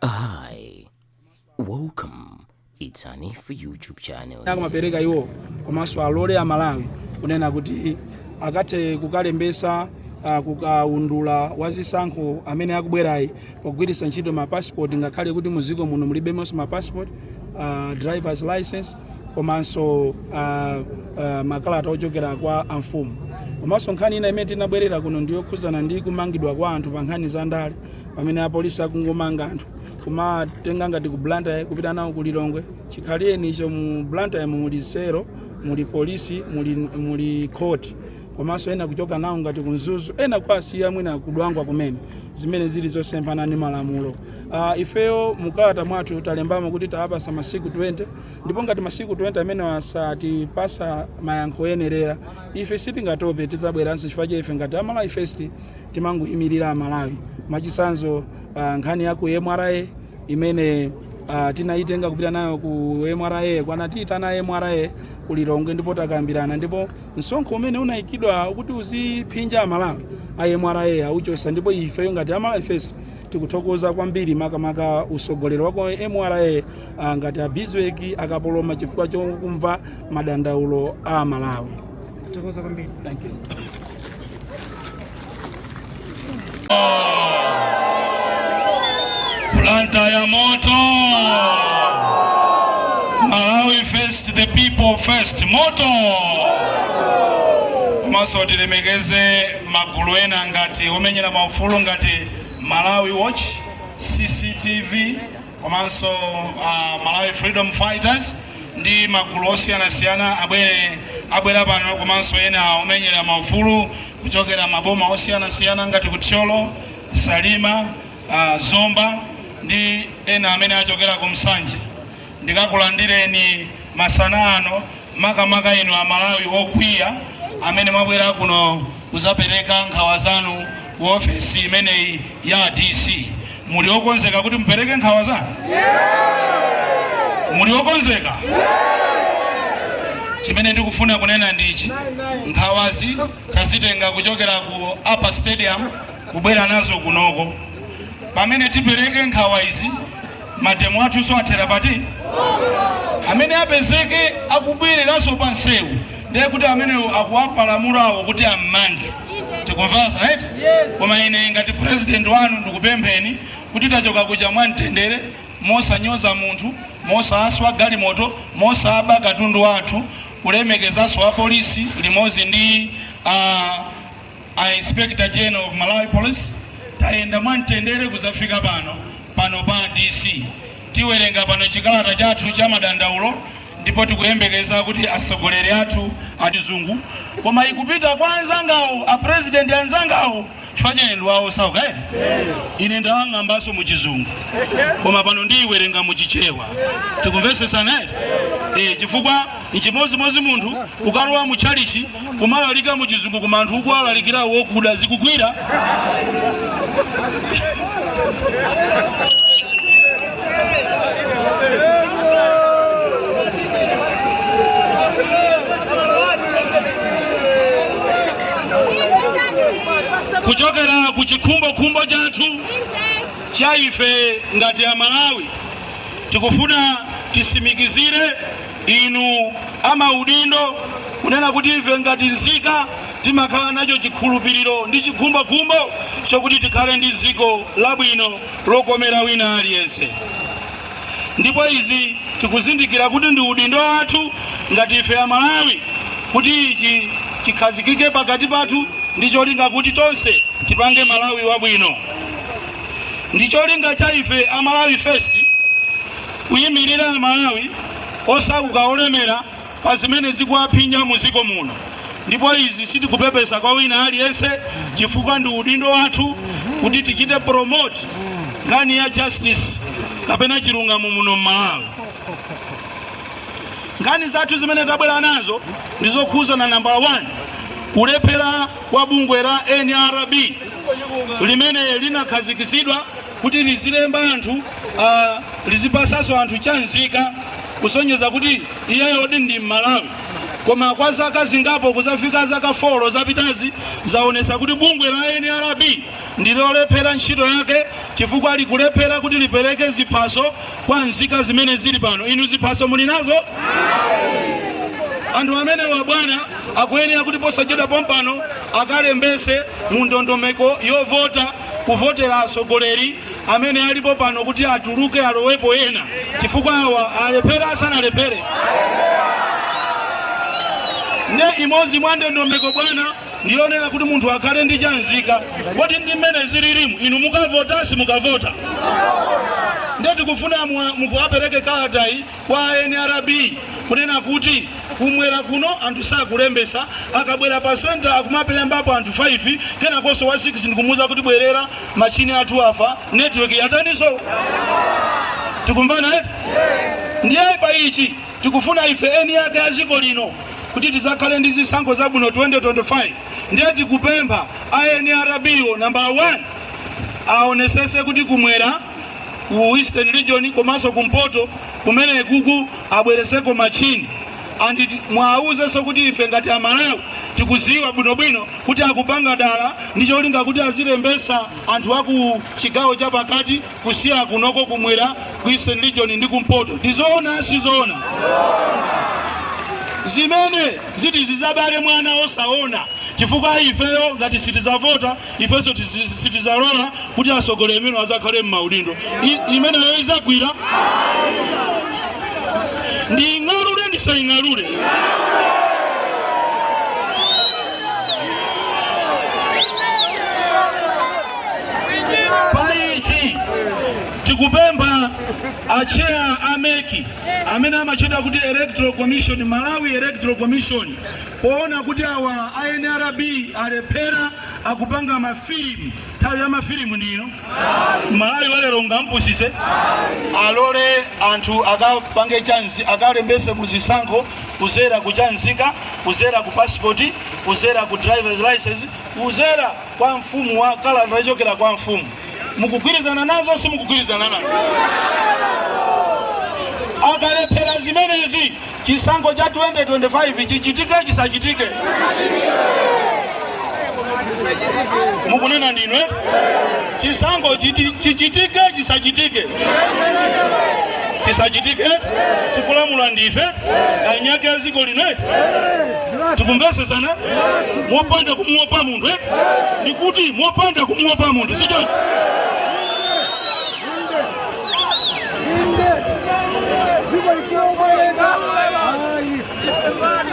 Hi, welcome. It's Nanji YouTube channel. akumapereka iwo komanso alole amalawi kunena kuti akathe kukalembesa ah, kukaundula wa zisankho amene akubwerayi pogwiritsa ntchito mapasipoti ngakhale kuti muziko muno mulibemonso mapasipoti ah, drivers license komanso ah, ah, makalata ochokera kwa amfumu komanso nkhani ina imene tinabwerera kuno ndiyokhudzana ndi kumangidwa kwa anthu pa nkhani za ndale pamene apolisi akungomanga anthu kumatenga ngati ku blantyre kupita nawo ku lilongwe chikhalireni icho mu blantyre muli sero muli polisi muli, muli court komanso ena kuchoka nawo ngati ku mzuzu ena kuwasiya mwina ku dwangwa kumene zimene zili zosemphana ndi malamulo uh, ifeyo mukalata mwathu talembamo kuti tawapasa masiku 20 ndipo ngati masiku 20 amenewa satipasa mayankho oyenerera ife sitingatope tidzabweranso chifukwa cha ife ngati amalawi first timangoimirira amalawi mwachisanzo uh, nkhani ya ku mra imene uh, tinayitenga kupita nayo ku mra anatiitana mra ku lilongwe ndipo takambirana ndipo msonkho umene unayikidwa kuti uziphinja amalawi a mra auchosa ndipo ifeyo ngati amalawi first tikuthokoza kwambiri makamaka usogoleri wa ku mra uh, ngati a bizweki kapoloma chifukwa chokumva madandaulo a amalawi Tikuthokoza kwambiri. Thank you. Blantyre moto. Malawi first, the people first. Moto. Komanso tilemekeze magulu ena ngati omenyera maufulu ngati Malawi Watch, CCTV, komanso a Malawi Freedom Fighters ndi magulu osiyanasiyana abwere abwera pano komanso ena omenyera maufulu kuchokera maboma osiyanasiyana ngati ku Thyolo, Salima, ah, Zomba ndi ena amene achokera ku Nsanje. Ndikulandireni masana ano makamaka inu a Malawi okwiya amene mwabwera kuno kuzapereka nkhawa zanu ku ofesi imeneyi ya a DC, muli okonzeka kuti mupereke nkhawa zanu? Muli okonzeka? Chimene ndikufuna kunena ndichi, nkhawazi tazitenga kuchokera ku Upper Stadium kubwera nazo kunoko. Pamene tipereke nkhawa izi Mademo athunso athera pati? Amene apezeke akubwereranso pa nseu ndiye kuti amenewo akukapalamula awo kuti ammange. Tikumvana right? Koma ine ngati president wanu ndikupempheni kuti tachoka kuja mwa mtendere mosanyoza munthu, mosaswa galimoto, mosaba katundu wa anthu, kulemekezanso apolisi limodzi ndi a a Inspector General of Malawi Police tayenda mwamtendere kuzafika pano pano pa DC tiwerenga pano chikalata chathu cha madandaulo ndipo tikuyembekeza kuti atsogoleri athu a chizungu koma ikupita kwa anzangawo a president anzangawo chifukwa cha eni wawo saukaeni ine ndalembanso mu chizungu koma pano ndiyiwerenga mu chichewa tikumvetsetsana eti eh chifukwa Nchimodzimodzi munthu ukalowa mu tchalichi kumalalika mu chizungu koma anthu ukuwalalikira wokuda sizikugwira kuchokera ku chikhumbokhumbo chathu cha ife ngati amalawi tikufuna titsimikizire inu amaudindo kunena kuti ife ngati nzika timakhala nacho chikhulupiriro ndi chikhumbokhumbo chokuti tikhale ndi dziko labwino lokomera wina aliyense ndipo izi tikuzindikira kuti ndi udindo wathu ngati ife amalawi kuti ichi chikhazikike pakati pathu ndi cholinga kuti tonse tipange malawi wabwino ndi cholinga cha ife amalawi first kuyimirira Amalawi osauka olemera pa zimene zikuwaphinya mu dziko muno, ndipo izi sitikupepesa kwa wina aliyense chifukwa ndi udindo wathu kuti tichite promote nkhani ya justice kapena chilungamo muno m'Malawi. Nkhani zathu zimene tabwera nazo ndi zokhuzana nambala 1 kulephera kwa bungwe la NRB limene linakhazikitsidwa kuti lizilemba anthu ah, lizipatsanso anthu cha nzika kusonyeza kuti iyeyodi ndi mmalawi koma kwa zaka zingapo kuzafika zaka folo zapitazi zaonesa kuti bungwe la nrb ndilolephera ntchito yake chifukwa likulephera kuti lipereke ziphaso kwa nzika zimene zili pano inu ziphaso muli nazo anthu amenewa bwana akuyenera kuti posachedwa pompano akalembetse mu ndondomeko yovota kuvotera atsogoleri amene alipo pano kuti atuluke alowepo ena chifukwa awa alephera asanalephere nde imodzi mwa ndondomeko bwana ndiyonena kuti munthu akhale ndi chanzika kodi ndi mmene zililimu inu mukavota simukavota nde tikufuna mwa- mukuwapereke kalatayi kwa nrb kunena kuti kumwera kuno anthu sakulembesa akabwera pa senta akumapelembapo anthu 5 kenakonso wa 6 ndikumuuza kuti bwerera machini athu afa network yataniso tikumvana eti ndiye pa ichi tikufuna ife eni yake a dziko lino kuti tizakhale ndi zisankho zabwino 2025 ndiye tikupempha a nrb nambala 1 aonesese kuti kumwera ku Eastern Region komanso kumpoto kumene kuku abwereseko machini and muwauzenso kuti ife ngati amalawi tikuziwa bwinobwino kuti akupanga dala ndi cholinga kuti azilembesa anthu aku chigawo cha pakati kusiya kunoko kumwera ku Eastern Region ndi kumpoto tizoona sizoona zimenezi ziti zizabale mwana osaona chifukwa ifeyo ngati sitizavota ifenso tizi- sitizalola kuti atsogoleri amene adzakhale m'maudindo I- imeneyo idzagwira ndiing'alule ndisaing'alule paichi tikupempha a cheya a MEC amene amatchedwa kuti electoral commission malawi electoral commission Poona kuti awa a nrb alephera akupanga ma film nthawi ya ma film ndi ino malawi walero sungampusise alole anthu akapange chanzi akalembese mu zisankho kuzera ku chanzika kuzera ku passport kuzera ku drivers license kuzera kwa mfumu wa kalata yochokera kwa mfumu mukugwirizana nazo simukugwirizana nazo akalephera zimenezi chisankho cha 2025 chichitike chisachitike? Mukunena ndinu eh? chisankho chichitike chisachitike? Chisachitike eh? tikulamula ndife eni ake a dziko lino eh? tikumvesesana mopanda kumuopa munthu ndikuti mopanda kumuopa munthu sichoncho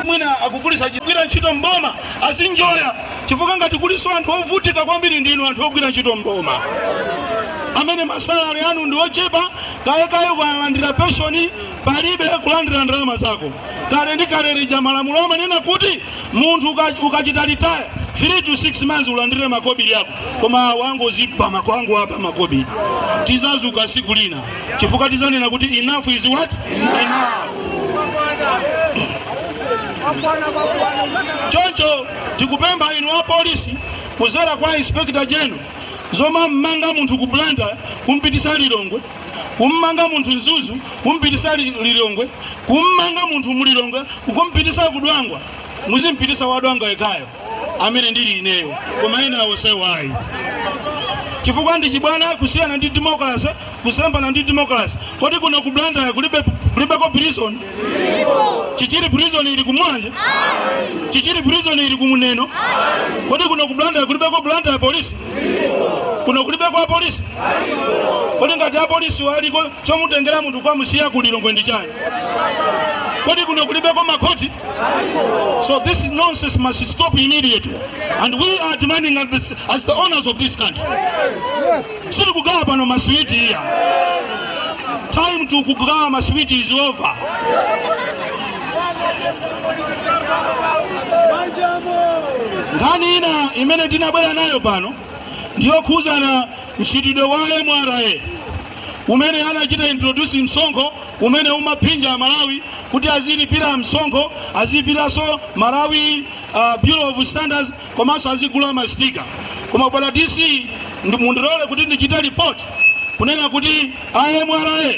mwina akuluakulu ogwira ntchito mboma azinjoya chifukwa ngati kuliso anthu ovutika kwambiri ndinu anthu ogwira ntchito mboma amene masalari anu ndi ochepa kalekale kulandira penshoni palibe kulandira ndalama zako kale ndi kale lija malamulo amanena kuti munthu uka- ukachita retire 3 to 6 months ulandire makobiri ako koma awo angozipaka kungoba makobiri tizazuka siku lina chifukwa tizanena kuti enough is what enough choncho tikupempha inu a polisi kuzera kwa inspector general zomammanga munthu ku Blantyre kumpitisa lilongwe kummanga munthu mzuzu kumpitisa lilongwe kummanga munthu mu lilongwe kumpitisa ku dwangwa muzimpitisa wa dwangwa yekhayo amene ndili ineyo koma ena onsewo ayi chifukwa ndi chibwana kusiyana ndi democracy kusemphana ndi democracy kodi kuno ku blantyre kulibeko prison chichiri prison ili ku mulanje chichiri prison ili ku neno kodi kuno ku blantyre kulibeko blantyre police kuno kulibeko apolisi kodi ngati apolisi aliko chomutengera munthu kukamusiya ku lilongwe ndi chani kodi kuno kulibeko makhoti so this nonsense must stop immediately and we are demanding as the owners of this country sitikugawa pano maswiti iya time to kugawa maswiti is over nkhani ina imene tinabwera nayo pano ndiyokhudzana mchitidwe wa mra umene anachita introduce msonkho umene umaphinja amalawi kuti azilipira msonkho azilipiranso malawi bureau of standards komanso azigula masitika koma bwana dc mundilole kuti ndichite report kunena kuti a mra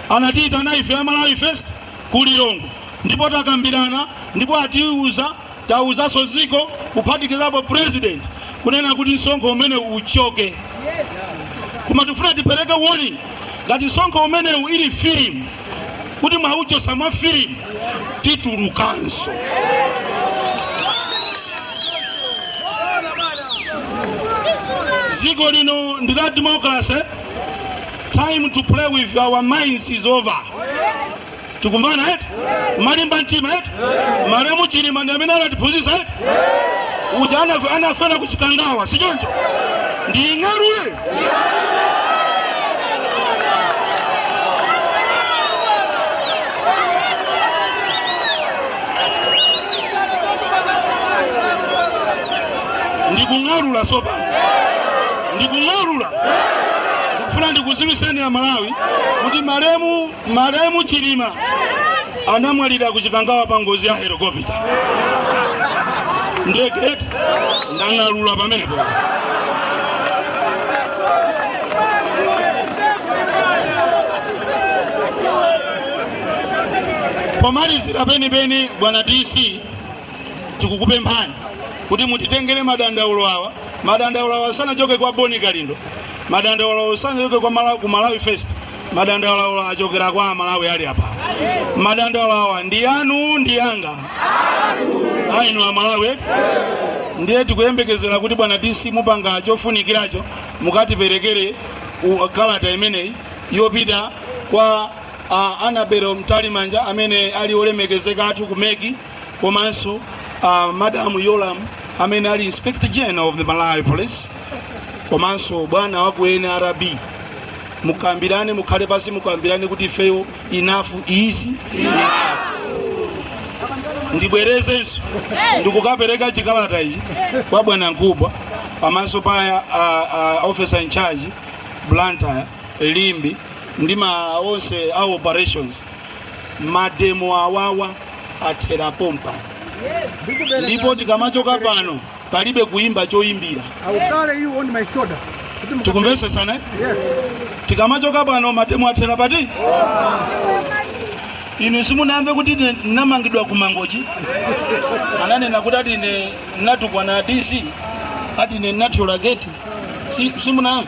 anatiyitana ife a malawi first ku lilongwe ndipo takambirana ndipo atiuza tauzanso dziko kuphatikizapo president kunena kuti msonkho umenewu uchoke koma tikufuna tipereke warning ngati msonkho umenewu ili filimu kuti mwauchosa mwa filimu titulukanso dziko lino ndi la democracy time to play with our minds is over tikumvana eti mwalimba mtima eti malemu chilima ndi amene anatiphunzitsa eti uja anafera ku chikangawa si choncho nding'alule ndikung'alula sopano ndikung'alula ndikufuna ndikudziwitseni a malawi kuti malemu Malemu Chilima anamwalira ku Chikangawa pa ngozi ya helikopita ndege eti ndang'alula pamenepo. Pomalizira penipeni, bwana DC, tikukupemphani kuti mutitengere madandaulo awa. Madandaulo awa sanachoke kwa Boni Kalindo, madandaulo awa sanachoke kwa Malawi, ku Malawi First. madandaulo achokera kwa amalawi ali apa madandaulo awa ndi anu ndi anga a inu amalawi ndiye tikuyembekezera kuti bwana dc mupanga chofunikiracho mukatiperekere u- kalata imeneyi yopita kwa uh, Annabel mtalimanja amene ali olemekezeka athu kumeki komanso uh, madam yolam amene ali inspector general of the malawi police komanso bwana wa ku nrb mukambirane mukhale pasi mukambirane kuti ifeyo enough is enough ndibwerezenso ndikukapereka chikalata ichi kwa bwana mkubwa pamaso pa uh, uh, officer in charge blantyre limbe ndi ma onse a operations mademo awawa athera pompa ndipo tikamachoka pano palibe kuimba choimbira tikumvesesana yes. tikamachoka pano mademo athera pati inu simunamve kuti namangidwa kumangochi ananena kuti ati ne natukwana a DC ati ne nathyola gate si simunamve